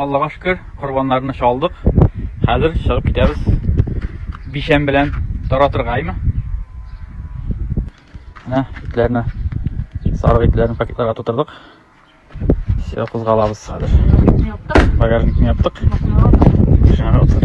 Аллага шөкер, корбаннарны чалдык. Хәзер чыгып китәбез. Бишән белән таратыргаймы? Менә итләрне, сарык итләрен пакетларга тутырдык. Все, кузгалабыз хәзер. Багажникны яптык. Багажникны яптык.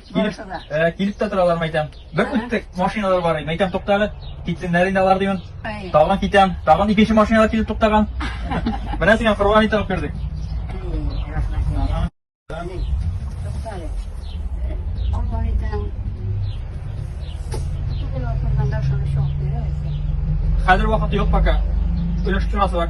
Барысы да. Ә, килеп тә торалар, мәйтәм. Бер Ага. үттек, машиналар бар иде. Мәйтәм, туктады. Китсеннәр инде алар димен. Әй. Тагын китәм. Тагын икенче машиналар килеп туктаган. Менә дигән корбан итеп бирдек. Әй, рәхмәтле. Амин. Туктале. Корбан итәм. Шундый вакытта да шуны чак бирә. Хәзер вакыты юк пока. Өлеш чынасы бар.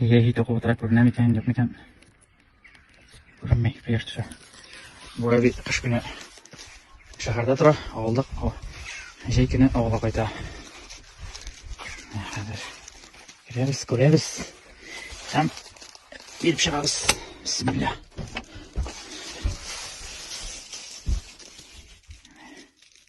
Нигә һит укып утыра күренә микән, юк микән? Күренмәй, кояш төшә. Бура бит кыш көне шәһәрдә тора, авылда җәй көне авылга кайта. Хәзер керәбез, күрәбез һәм килеп чыгабыз. Бисмилла.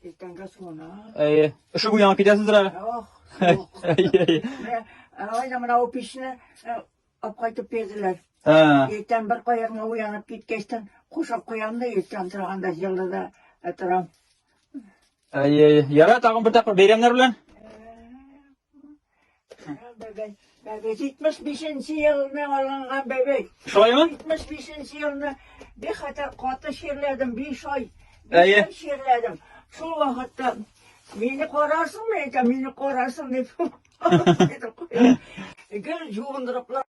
Иртәнгә суына. Әйе. Эше бу яңа китәсездер әле. Ох. Әйе. Айда менә ул пешне алып кайтып бирделәр. Иртән бер каерма уянып киткәчтен кушып куям да иртән торганда җылы да торам. Әйе. Яра тагын бер тапкыр бәйрәмнәр белән. Бәбәй, бәбәй, 75 елны алынган бәбәй. Шулаймы? 75 елны бик хәтә каты ширләдем, 5 ай. Әйе. Бик ширләдем. Шул вакытта мине карарсыңмы, әйтә, мине карарсың дип. Гел җуындырып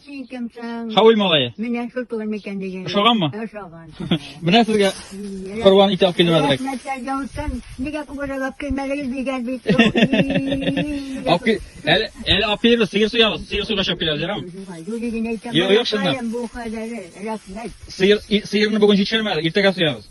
Хавил малае. Менә шутлы микән дигән. Ошаганмы? Ошаган. Менә сезгә корбан ите алып килдем әзрәк. Рәхмәтләр яусын. Нигә күбрәк алып килмәдегез дигән бит. Алып кил. Әле әле алып килербез, сыер суябыз. Сыер суга чыгып киләбез, ярам. Юк, юк, шуннан. Рәхмәт. Сыер сыерны бүген җитешермәдек, иртәгә суябыз.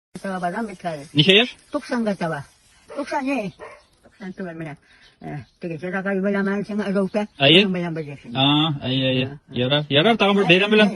Табадан битләре. Ничә яшь? 90-га таба. 90 не. 90 түгел менә. Э, Теге җырага юбиламан сиңа рәүтә. Әйе. Белән бергә. А, әйе, әйе. Ярар, ярар, тагын бер бәйрәм белән.